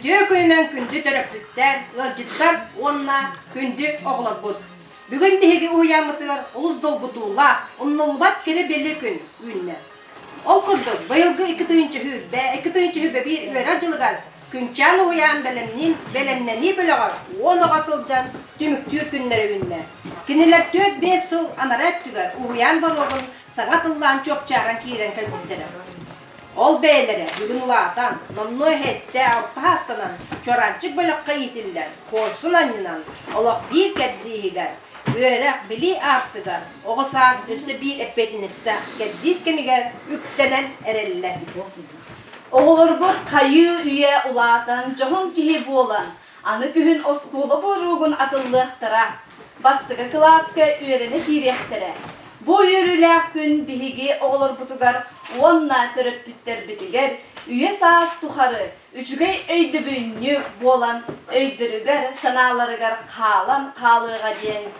Үтүө күнүнэн күндү төрөппүттэр, ыалдьыттар уонна күндү оҕолорбут! Бүгүн биһиги уһуйааммытыгар олус долгутуулаах, умнуллубат кэрэ бэлиэ күн үүннэ. Ол курдук, быйылгы икки тыһыынча сүүрбэ, икки тыһыынча сүүрбэ биир үөрэх дьылыгар Күнчээн уһуйаан бэлэмниин бэлэмнэнии бөлөҕө уон оҕо сылдьан түмүктүүр күннэри үүннэ. Кинилэр түөрт-биэс сыл анараа өттүгэр уһуйаан боруогун саҥа тыллаан чуопчааран киирэн кэлбиттэрэ. Ол бэйэлэрэ бүгүн улаатан, номнуо эһэтэ алтаһаастанан чуораанчык бөлөххө иитиллэр куорсун анньынан олох биир кэрдииһигэр, үөрэх-билии аартыгар оҕо саас өссө биир эппиэтинэстээх кэрдиис кэмигэр үктэнэн эрэллэр. Оҕолорбут хайыы-үйэ улаатан дьоһун киһи буолан, аны күһүн оскуола буоруогун атыллыахтара, бастакы кылааска үөрэнэ киириэхтэрэ. Бу үөрүүлээх күн биһиги оҕолорбутугар уонна төрөппүттэрбитигэр үйэ-саас тухары үчүгэй өйдөбүнньүк буолан өйдөрүгэр-санааларыгар хаалан хаалыаҕа диэн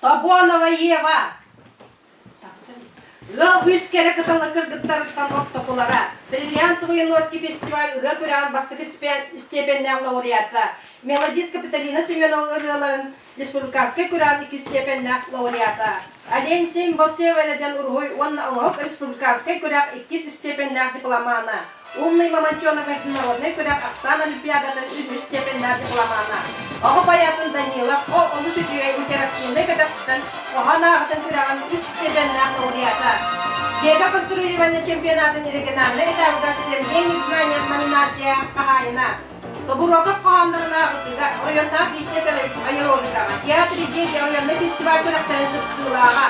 Тобонова Ева ыал үс кэрэ кытылы кыргыттарыттан ортокулара, бриллиантовые нотки фестиваль ырыа күрэҕин бастакы степеннээх лауреата, мелодистка Капиталина Семенова ырыаларын республиканскай күрэҕин икки степеннээх лауреата, Олень Семь Балсева эрдэн уруһуй уонна оҥоһук республиканскай күрэх иккис степеннээх дипломана, Умный Мамонтеновы народнай күрэх ахсаан олимпиадатын үһүс степеннээх дипломана, оҕо поэтын Данилов ол олус үчүгэй интерактивнай кэтэхтэн хоһоон ааҕытын күрэҕин үс степеннээх лауреата, Лего конструирование чемпионатын региональнай этабыгар Стремление к знаниям номинация хаһаайына, Добуруокап хоһооннорунаах ытыыга оройуоннаах биирдиэс аэробикаҕа, театр идея оройуоннай фестиваль күрэхтэрин кыттыылааҕа,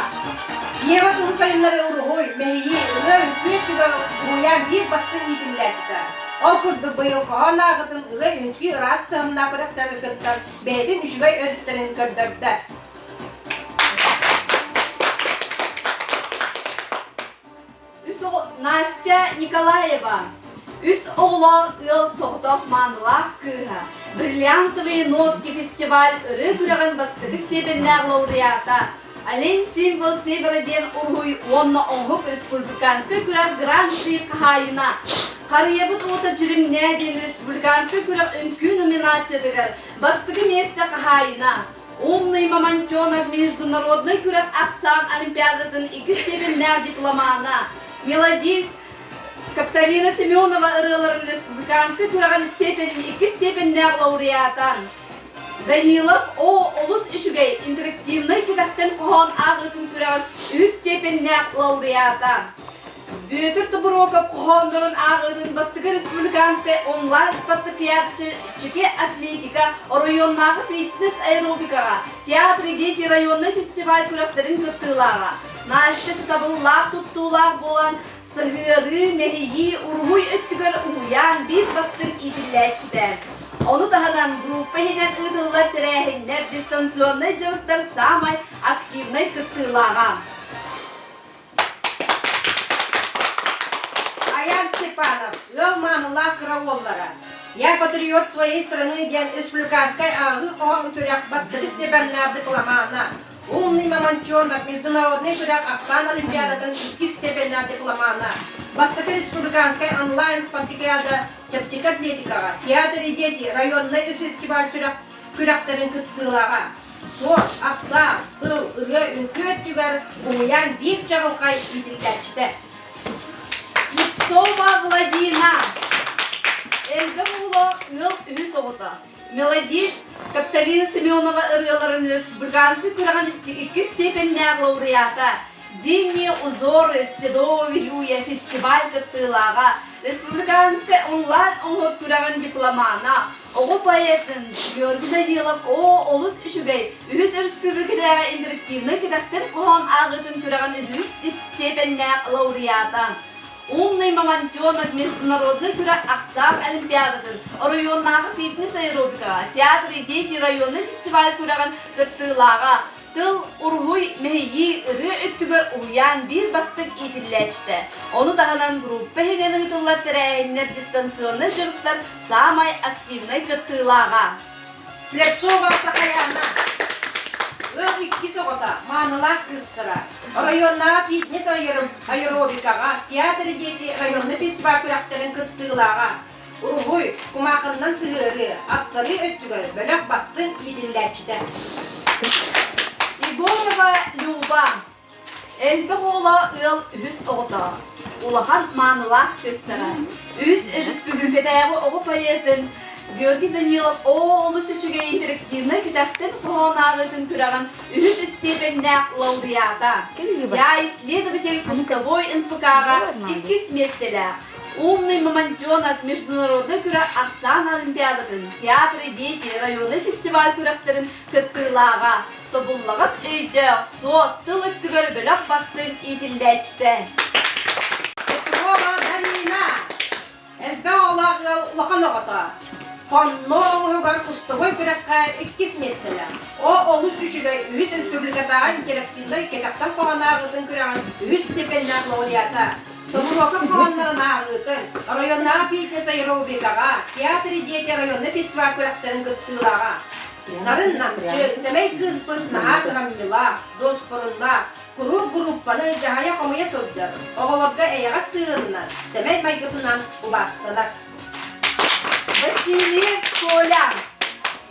Ева тылы сайыннары уруһуй, мэһийии, ырыа, үҥкүү өттүгэр уһуйаан биир бастыҥ иитиллээччитэ. Ол курдук быйыл хоһоон ааҕытын ырыа-үҥкүү ыраас тыһымнаах күрэхтэрин кыттан, бэйэтин үчүгэй өрүттэрин көрдөрдө. үс оҕо Настя Николаева, үс оҕолоох ыал соҕотох маанылаах кыыһа, Бриллиантовые нотки фестиваль ырыа күрэҕин бастакы степеннээх лауреата Олень символ севера диэн уруһуй уонна оһук республиканскай күрэх гран-при хаһаайына Харыйабыт уота дьиримнээ диэн республиканскай күрэх үҥкүү номинациятыгар бастакы миэстэ хаһаайына Умный Мамонтенок международнай күрэх ахсаан олимпиадатын иккис степеннээх дипломана, мелодист Капталина Семенова ырыаларын республиканскай күрэҕин степенин иккис степеннээх лауреата Данилов О олус үчүгэй интерактивнай кэтэхтэн хоһоон ааҕыытын күрэҕин үһүс степеннээх лауреата Бүөтүр Тобуруокап хоһооннорун ааҕыытын бастакы республиканскай онлайн-спартакиадчыки атлетика оройуоннааҕы фитнес-аэробикаҕа, театры дети районнай фестиваль күрэхтэрин кыттыылааҕа, Настя сатабыллаах туттуулаах буолан, сыһыарыы, мэһийии, уруһуй өттүгэр уһуйаан биир бастыҥ иитиллээччитэ. Ону таһынан группа иһинэн ыытыллар тэрээһиннэр дистанционнай дьарыктар саамай активнай кыттыылааҕа. Аян Степанов, ыал маамылаах кыра уоллара. Я патриот своей страны диэн республиканскай ааҕыы хоһоон күрэх бастакы степеннээх дипломана. Умный мамончонок международный күрэх Оксана Олимпиадатын иккис степеннээх дипломана. Бастакы республиканскай онлайн спартакиада чэпчэки атлетикаҕа Театр и дети районнай фестиваль сүрэх Күрэхтэрин кыттыылааҕа, суос, ахсаан, тыл, ырыа, үҥкүү өттүгэр уһуйаан биир чаҕылхай иитиллээччитэ. Ипсома Владина. Эльга Муло ыал үһүс оҕото. Мелодист Капталина Семенова ырыаларын үс Быганскай күрэҕин иккис степеннээх лауреата, Зимние узоры Седого Юя фестиваль кыттыылааҕа, республиканскай онлайн-оҥоруу күрэҕин дипломана, Оҕо поэттын Георгий Данилов Оо, олус үчүгэй! Үһүс өрөспүүбүлүкэтээҕи интерактивнай кэтэхтэн хоһоон ааҕыытын күрэҕин үһүс степеннээх лауреата, умный мамонтенок международнай күрэх ахсаан олимпиадатын оройуоннааҕы фитнес аэробикаҕа театр идеи районнай фестиваль күрэҕин кыттыылааҕа Тыл уруһуй мэһийии ырыа өттүгэр уһуйаан биир бастыҥ иитиллээччитэ. Ону таһынан группа иһинэн ыытыллар тэрээһиннэр дистанционнай дьарыктар саамай активнай кыттыылааҕа. Слепцова Сахаяна. Ыал иккис оҕото, маанылаах кыыстара. Оройуоннааҕы фитнес аэробикаҕа Театр дети районна фестиваль күрэхтэрин кыттыылааҕа. Уруһуй, кумаахынынан сыһыарыы, аттарыы өттүгэр бөлөх бастыҥ иитиллээччитэ. Егорова Люба. Элбэх уола ыал үһүс оҕото. Улахан маанылаах кыыстара. Үһүс өрөспүүбүлүкэтээҕи оҕо поэтын Георгий Данилов Оо олус үчүгэй интерактивнай күтэхтэн хоһооннааҕытын күрэҕин үһүс истиэпэннээх лауреата. Я исследователь кустовой НПК-ҕа иккис миэстэлээх Умный мамонтенок международнай күрэх ахсаан олимпиадатын Театры дети районнай фестиваль күрэхтэрин кыттыылааҕа тобуллаҕас өйдөөх суот тыл өттүгэр бөлөх бастыҥ иитиллээччитэ Петрова Дарина элбэх оҕолоох ыал улахан оҕото Хонно олуһугар кустугуй күрэххэ иккис миэстэлээх. О олус үчүгэй үһүс республикатааҕы интерактивнай кэтэхтэн хоһоон ааҕыытын күрэҕин үһүс степеннээх лауреата Добуруокап хоһооннорун ааҕыытын, оройуоннааҕы фитнес аэробикаҕа, театр идиэйэтэ районна фестиваль күрэхтэрин кыттыылааҕа. Нарын намчы, сэмэй кыыспыт наһаа кыһамньылаах, дуоспуруннаах, куруук группаны дьаһайа-хомуйа сылдьар, оҕолорго эйэҕэс сыһыанынан, сэмэй майгытынан убаастанар. Василий Коля,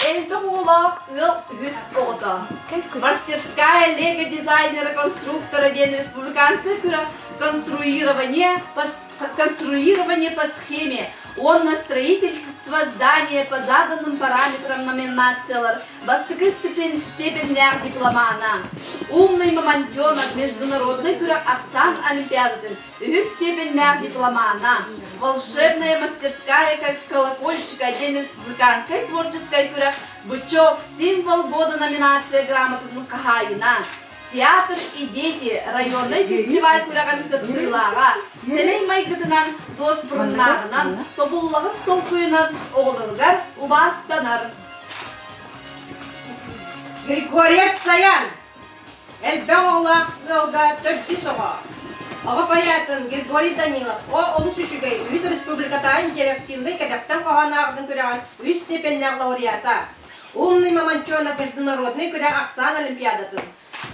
элбэх оҕолоох ыал үһүс оҕото. Мастерская лего-дизайнера-конструктора диэн республиканское бюро конструирования по, конструирование по схеме уонна строительство здания по заданным параметрам номинациялар бастакы степеннээх дипломана, умный мамонтенок международнай бюро Оксан Олимпиадатын Үһүс степеннээх дипломана, волшебная мастерская как колокольчик один из британскай творческай күрэх «Бычок. Символ года» номинация грамотатын хаһаайына, театр и дети районнай фестиваль күрэҕин кыттыылааҕа, сэмэй майгытынан, дуоспуруннааҕынан, тобуллаҕас толкуйунан оҕолоругар убаастанар. Григорец Саян! Элбэх оҕолоох ыалга төрдүс оҕо. Оҕо поэтын Григорий Данилов о олус үчүгэй, үһүс республикатааҕы интерактивнай кэтэхтэн хоһоон ааҕарын күрэҕин үһүс степеннээх лауреата, умный мамонтенок международнай күрэх ахсаан олимпиадатын,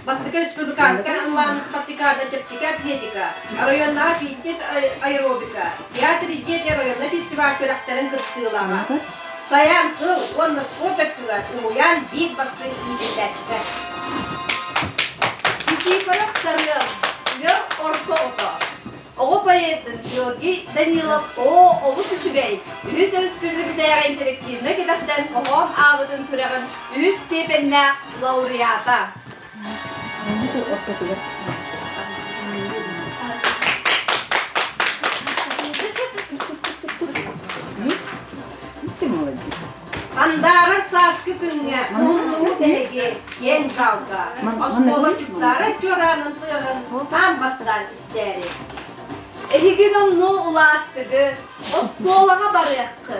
бастакы республиканскай ыллаан спартакиада чэпчэки атлетика, оройуоннааҕы фитнес аэробика, театр идея оройуоннай фестиваль күрэхтэрин кыттыылааҕа. Сайаан кыл уонна спорт өттүгэр уһуйаан биир бастыҥ иитиллээччитэ. Никифоров Сарыал, тыа орто ото. Оҕо поэттын Георгий Данилов Оо олус үчүгэй! Үһүс өрөспүүбүлүкэтээҕи интерактивнай кэтэхтэн хоһоон аабытын күрэҕин үһүс степеннээх лауреата. Сандаарар сааскы күҥҥэ муннуу тэһиги киэҥ залга оскуолачуттаары чуораанын тыаҕын хаан бастаан истээри. Эһиги номнуу улааттыгы оскуолаҕа барыаххы,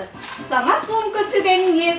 саҥа суумка сүгэҥҥит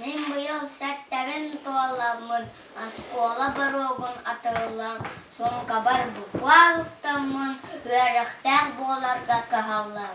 Мин быйыл сэттэбин туоламмын оскуола боруогун атыллан суумкабар буквалыктаммын үөрэхтээх буоларга кыһаллар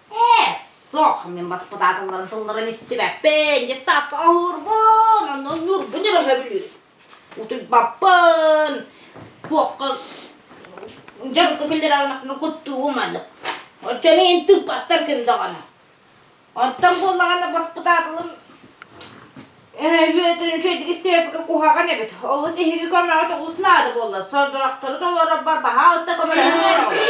Ээ, суох, мин баспытааталларын тылларын истибэппин, десаппа оһурбун, онно ньурбун өрөһөбүлүүрүн. Утуйбаппын. Туохха дьарыкка киллэрэҕинэхпин куттуум аны. Оччо мин тыыппаттар ким даҕаны. Онтон буоллаҕына баспытааталым үөрэтэрим үчэйдик истиэппикэ куһаҕан эбит. Олус эһиги көмөҕүт олус наада буолла. Сордоктору толорор барбаһаа уста көмөлөһүмүөр оҕолор.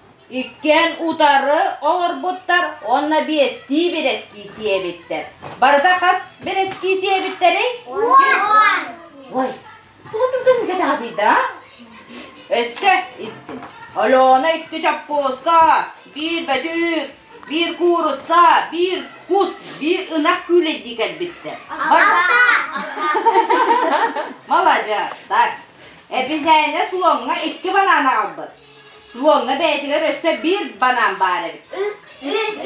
Иккиэн утары олорбуттар уонна биэстии бэрэскиисийэ эбиттэр. Барыта хас бэрэскиисийэ эбиттэрэй? Уон. Ой, тугутугдан кэтэҕитийдэ? Өссө истин. Алена икки чоппууска, биир бөтүүк, биир куурусса, биир кус, биир ынах күүлэйдии кэлбиттэр. Маладьыас, так. Эписээнэ слоҥҥа икки банааны аҕалбыт. Слоҥҥа бэйэтигэр өссө биир банаан баар эбит.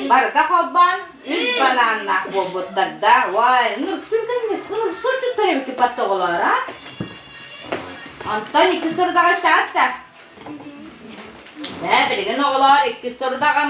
Барыта холбоон үс банааннаах буолбуттардаах. Уай, ныркүргэнник, нырсучуттар эбикки паттоголоро. Онтон иккис сорудаҕа истэҕит да? Бээ, билигин оҕолоор, иккис сорудаҕым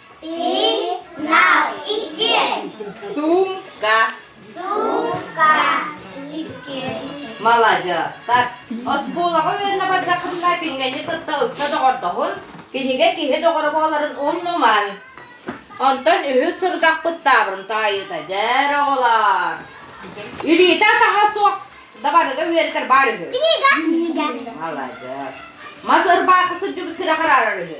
Маладьыас! Оскуолаҕа үөннэ бардаххытына пингэньи кытта ыкса доҕордоһун, кинигэ киһи доҕоро буоларын умнуман. Онтон үһүс сорудахпыт таабырын таайыыта, дьэр оҕолоор! Илиитэ атаһа суох дабарыга үөрэтэр баар үһү. Книга, книга. Маладьыас! Мас ырбаакы сыдьыбы сирэ хараарар үһү.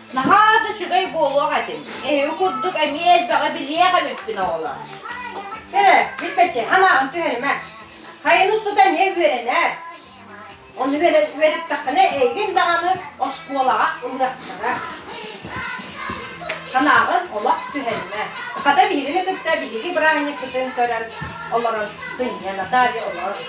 Наһаа да үчүгэй буолуох этим. Эһиги курдук эмиэ элбэҕи билиэх эбиппин, оҕолор. Кэрэ, билбэччи, санааҕын түһэримэ. Хайын устата эмиэ үөрэнэр. Ону үөрэн үөрэттэххинэ эйигин даҕаны оскуолаҕа ылыахтара. Санааҕын олох түһэримэ. Хата биһигини кытта биһиги бырааһынньыкпытын көрөн, олорон сынньан, Наталья олорор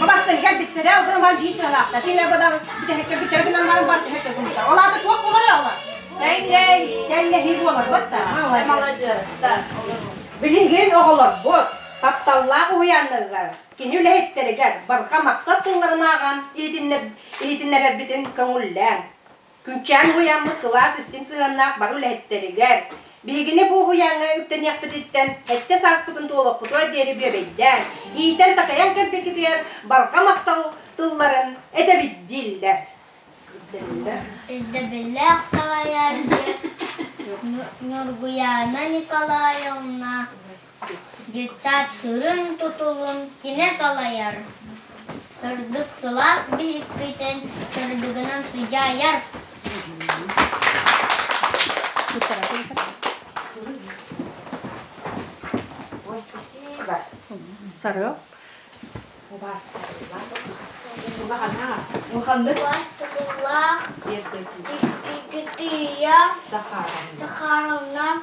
Бабастан кэлбиттэрэ, одан бар биир сыалаахта. Тиле бадан бүтэ кэлбиттэрэ гынан баран бар түһэ көгумта. Олата туох болар ола? Тэҥней. Тэҥнеһи болар батта. Молодец. Билигин оҕолорбут тапталлаах уһуйаанныгар кини үлэһиттэригэр барҕа махтал тылларын ааҕан иһитиннэрэрбитин көҥүллээҥ. Күүччээн уһуйаммыт сылаас истиҥ сыһыаннаах бары үлэһиттэригэр, биһигини бу уһуйааҥҥа үктэниэхпититтэн сэттэ сааспытын туолаппытыгар диэри бүөбэйдээн, иитэн-такайан кэлбиккитигэр барҕа махтал тылларын этэбит дииллэр. Ирдэбиллээх салайааччы Ньургуйаана Николаевна Детсад сүрүн тутулун кини салайар, сырдык сылаас биһикпитин сырдыгынан сыдьаайар. Ой, спасибо. Сарыал. Улаахтыкулаах Сахаровна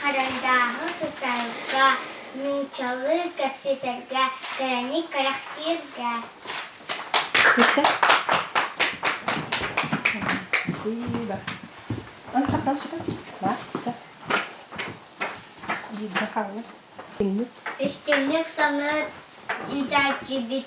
Харандааһы тутарга, нууччалыы кэпсэтэргэ, кэрэни кэрэхсииргэ. Спасибо. Онта калчыка баста. Бииргэ хаалар. Үстүннүк саныыр иитээччибит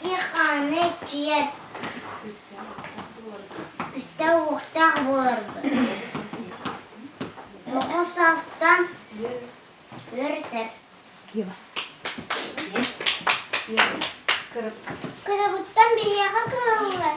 Киэхааны иччийэр үстэ-уохтаах буоларбыт. Оҕо саастан үөрэтэр. Кырабыттан биһиэхэ кыыллар.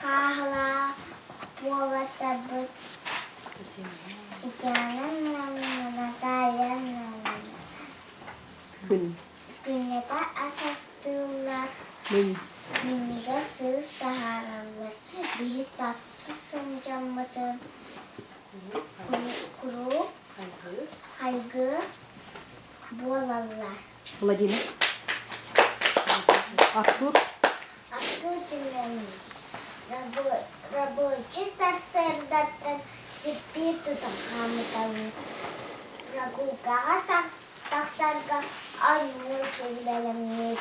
Хаахылаах уолаттарбыт Ичаананнанна, Натальяннанна күннэтэ ас астыыллар, минньигэс сыыс таһаараллар. Биһи татта сылдьаммытын куруук хайгыы буолаллар. Владимир. Артур. Артур Семенович, рабочий сарсыардаттан сиппии тутан хаамыталыыр. Нагулкаҕа тахсарга анныы сүллэлэмниир.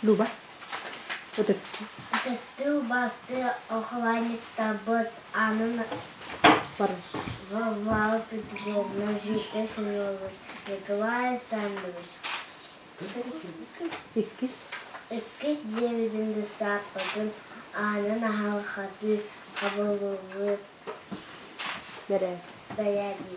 Люба. Ытыктыы убаастыы ухабанньыктаабыт аанын Варвара Петровна, Витя Семенович, Николай Александрович иккис диэбитин быыстапкатын аанын аһарҕатыы хабыллыбыт бэрээдэги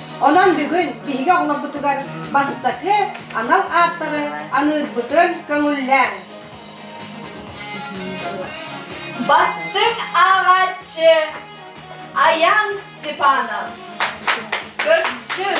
Онон бүгүн киһигэ оҕолоргутугар бастакы анал ааттары аныырбытын көҥүллээҥ. Бастыҥ ааҕааччы Аян Степанов. Көрсүн!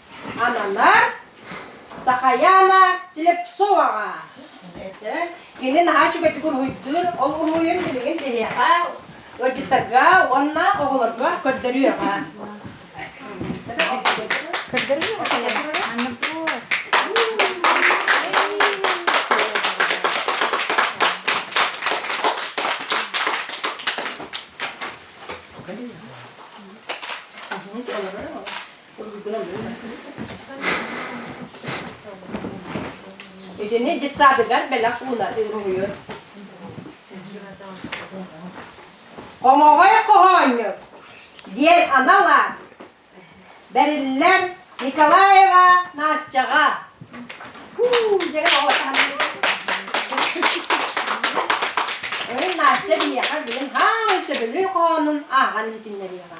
Ананар Сахаяна Слепцоваҕа. Эрдэ кини наһаа үчүгэйдик уруһуйдуур, ол уруһуйун билигин биһиэхэ, ыалдьыттарга уонна оҕолорго көрдөрүөҕэ. Итини детсадыгар бэлэх ууна уруһуйар. Хомоҕой хоһоонньут диэн анал аат бэриллэр Николаева Настяҕа. Өрүн Настя биһиэхэ билин хаамын сөбүлүү хоонун аахан иһитиннэриэҕэ.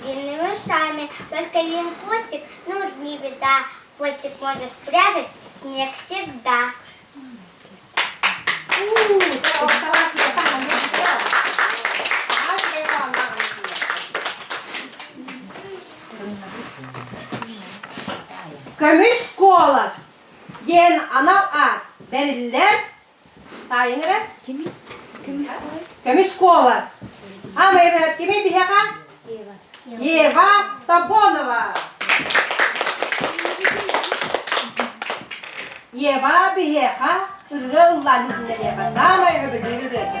Длинными ушами, только один хвостик, ну вот не беда, хвостик можно спрятать, снег всегда. Көмүс куолас диэн анал аат бэриллэр Таайыҥ эрэ. Кими? Көмүс куолас. Көмүс куолас. А моя кими тиһэҕэ? Ева Топонова. Ева биһиэхэ ырыа ыллаан иһиннэриэхэ саамай өбүгэй ырыата.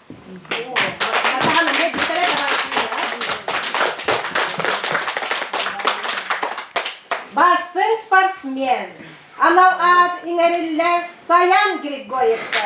Бастыҥ спортсмен анал аат иҥэриллэр Саян Григорьевка.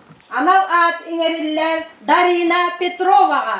анал аат иҥэриллэр Дарина Петроваҕа.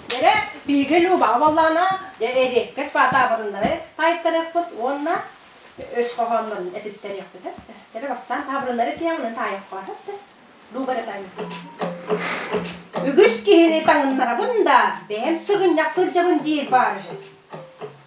Дэрэ, биһиги Любаҕа буоллаҕына, эриэккэс таабырыннары таайтарыахпыт уонна өс хоһооннорун этиттэриэхпит эттэ. Дэрэ бастаан таабырыннары тиэҕин таайахха эттэ. Люба эрэ таайна. Үгүс киһини таҥыннарабын да, бэйэм сыгынньах сылдьабын диир баар үһү.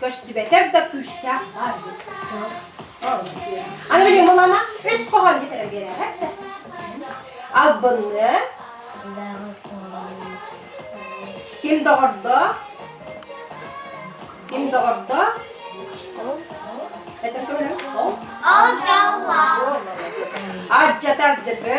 Көстүбэтэр да күүстээх баар диир дьон. Аны билим ылана үс хоһон китэрэ биэрээт да. Албынны. Ким доҕордо? Ким доҕордо? Это көлөм? Ол. Алдьалла. Алдьатар дыбы.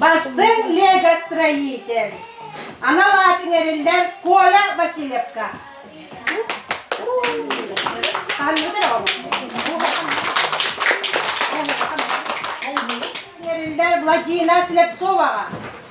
Бастыҥ лего-строитель, анал аатын эриллэр Коля Васильевка. Ханныгар Эриллэр Владина Слепцоваҕа.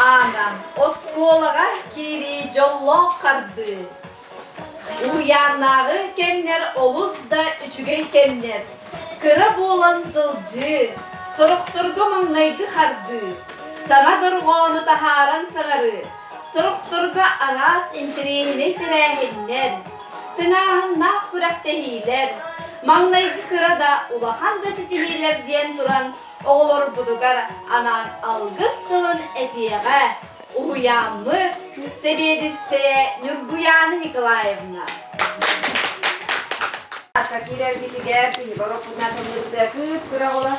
Ана, оскуолаға киирии жоллоох қарды. Уһуйааннааҕы кэмнэр олус да үчүгэй кэмнэр. Кыра буолан сылдьыы, сорохторго маҥнайгы хардыы, саҥа дорҕоону таһааран саҥарыы, Сорохторго араас интэриэһинэй тэрээһиннэр, тыҥааһыннаах күрэхтэһиилэр, маҥнайгы кыра да, улахан да ситиһиилэр диэн туран оҕолорбутугар анаан алгыс тылын этиэҕэ уһуйааммыт сэбиэдиссэйэ Ньургуйаана Николаевна. Киирэргитигэр киһи боропутунан тыллыттыа кыыс күрэҕ олор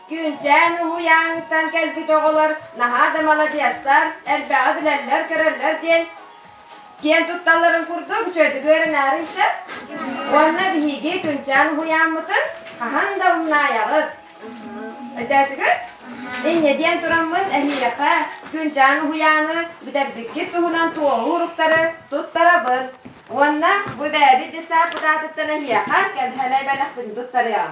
Күнчээн уһуйааҥҥыттан кэлбит оҕолор наһаа да маладьыастар, элбэҕи билэллэр-көрөллөр диэн киэн тутталларын курдук үчүгэйдик үөрэнээриҥ сөп. Уонна биһиги Күнчээн уһуйааммытын хаһан да умнаайаҕыт. Өтөөтүгүт? Инньэ диэн тураммын эһиэхэ Күнчээн уһуйааны бүтэрбиккит туһунан туоһу уруктары туттарабын. Уонна бу бэйэбит детсад кутаатыттан эһиэхэ кэбиһэмэй бэлэхпин туттарыам.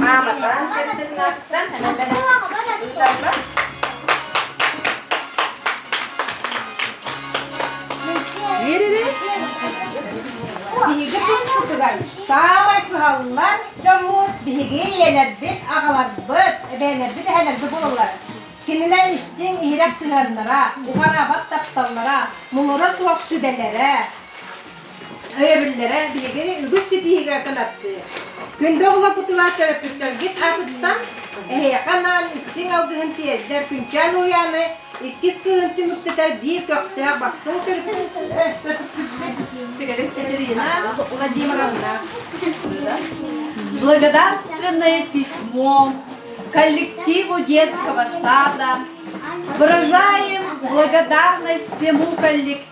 Мааматаан кыттыҥҥаттан ыытарбат Биһиги быспытыгар саамай кыһаллар дьоммут биһиги ийэлэрбит, аҕаларбыт, эбээнэрбит, эһэлэрбит буолаллар. Кинилэр истиҥ иһирэх сыһыаннара, уҕараабат тапталлара, муҥура суох сүбэлэрэ, Өйөбүллэрэ биһиги үгүс ситиһиигэ кынаттыыр. Күндэ оҕолор кутулаах төрөппүттэргит аатыттан эһиэхэ анаан истиҥ алгыһын тиэрдэр Күнчээн Уйааны иккис кыһын түмүктэтэр биир көхтөөх бастыҥ Катерина Владимировна. Благодарственное письмо коллективу детского сада выражаем благодарность всему коллективу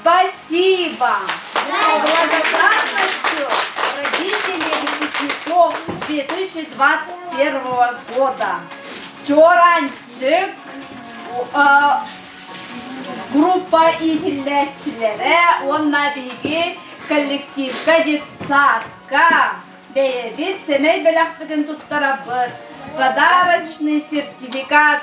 Спасибо! Благодарностью родителей выпускников 2021 года. Чоранчык группа иһиллээччилэрэ уонна биһиги коллективка детсадка бэйэбит сэмэй бэлэхпитин туттарабыт подарочный сертификат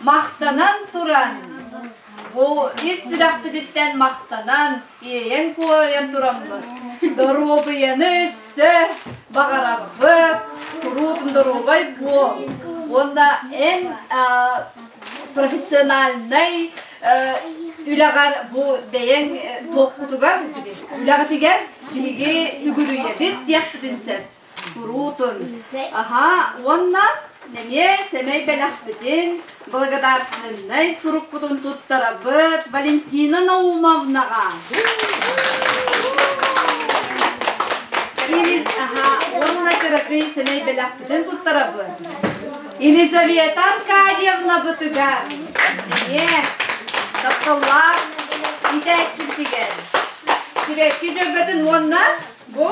Махтанан туран, бу ис сүрэхпититтэн махтанан, иэйэн-куорайан тураммыт доруобуйаны өссө баҕарабыт, куруутун доруобай буол уонна эн профессиональнай үлэҕэр бу бэйэҥ туохкутугар, үлэҕитигэр биһиги сүгүрүйэбит диэхпитин сөп. Куруутун. Аһаа, уонна эмиэ сэмэй бэлэхпитин, благодарственнай сурукпутун туттарабыт Валентина Наумовнаҕа. аһаа, уонна кыракый сэмэй бэлэхпитин туттарабыт. Елизавета Аркадьевнабытыгар, эмиэ тапталлаах иитээччибитигэр, сибэкки дьөгбөтүн уонна Бу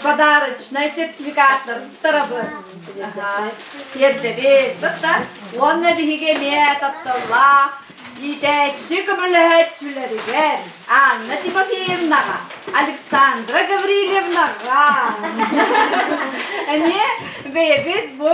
подарочный сертификаттар туттарабын. Тиэрдэбит туттар уонна биһиги эмиэ тапталлаах иитээччи көмөлөһөөччүлэригэр Анна Тимофеевнаҕа, Александра Гаврильевнаҕа эмиэ бэйэбит бу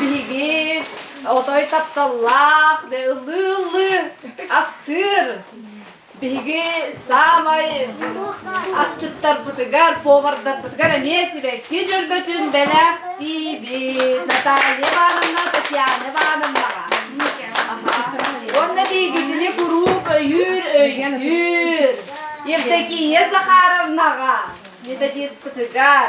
Биһиги отой тапталлаах, да ылыы-ылыы астыыр. Биһиги саамай асчыттарбытыгар, повардарбытыгар эмиэ сибэкки дьөрбөтүн бэлэхтиибит. Наталья Ивановна, Татьяна Ивановнаҕа. Уонна биһигитини куруук өйүүр, өйдүүр. Евдокия Захаровнаҕа, методистпытыгар.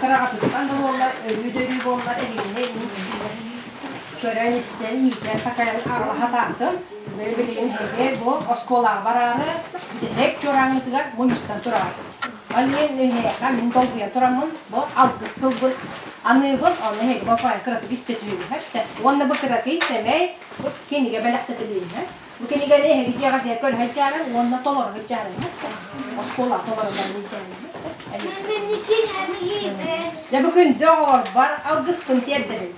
кыраҕатыттан да буоллар өрүү да өрүү буоллар эһиилэһэ иһиитин көрөн истэн иитэн такайан аҕалаһа тааттым били билигин эһиги бу оскуолаҕа бараары бүтэһик чуораҥытыгар мунньустан тураҕын ол иһин өйһээхэ мин долгуйа тураммын бу алгыс тылбын аныыбын ону эһиги болкоойга кыратык истэ түһүһэр уонна бу кыракый сэмэй кинигэ бэлэхтэтилиннэ Бу кэмигэр эһиги дьиэҕэ диэки өлөһө иччаарыҥ уонна толору иччаарыҥҥыт оскуолаҕа толорулларын иччээриҥҥит. Дьэ бу күндү оҕолорбор алгыспын тиэрдэбин.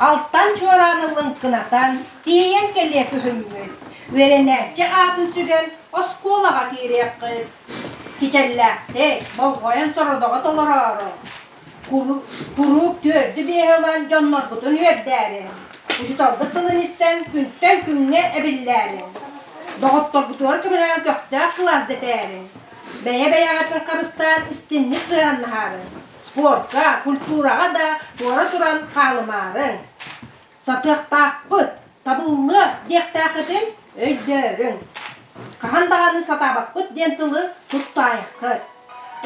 Алтан чуораан ыллыҥ кынатан, тиэйэн кэлиэ күһүммүт. Үөрэнээччи аатын сүгэн оскуолаҕа киириэххит. Кичэллээхтик, болҕойон сорудоҕу толороору, куруук түөрдү-биэһи ылан дьоннорбутун үөрдээри, учууталбыт тылын истэн күнтэн күҥҥэ эбиллээри, доҕотторбутугар көмөлөөн көхтөөх кылаас дэтээри, бэйэ-бэйэҕитин харыстаан истинник сыһыаннаһаары, спортка, культураҕа да туора туран хаалымаарыҥ! Сатыахтаахпыт, табыллыах диэхтээххитин өйдөөрүҥ. Хаһан даҕаны сатаабаппыт диэн тылы туттаайаххыт.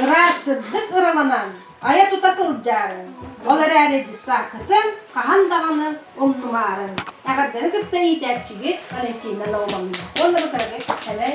Ыраас сырдык ыраланан, айа-тута сылдьаарыҥ. Ол эрээри десанккытын хаһан даҕаны умнумаарыҥ. Эҕэрдэни кытта иитээччигит Валентина Наумовна уонна бытарыгы сэмэй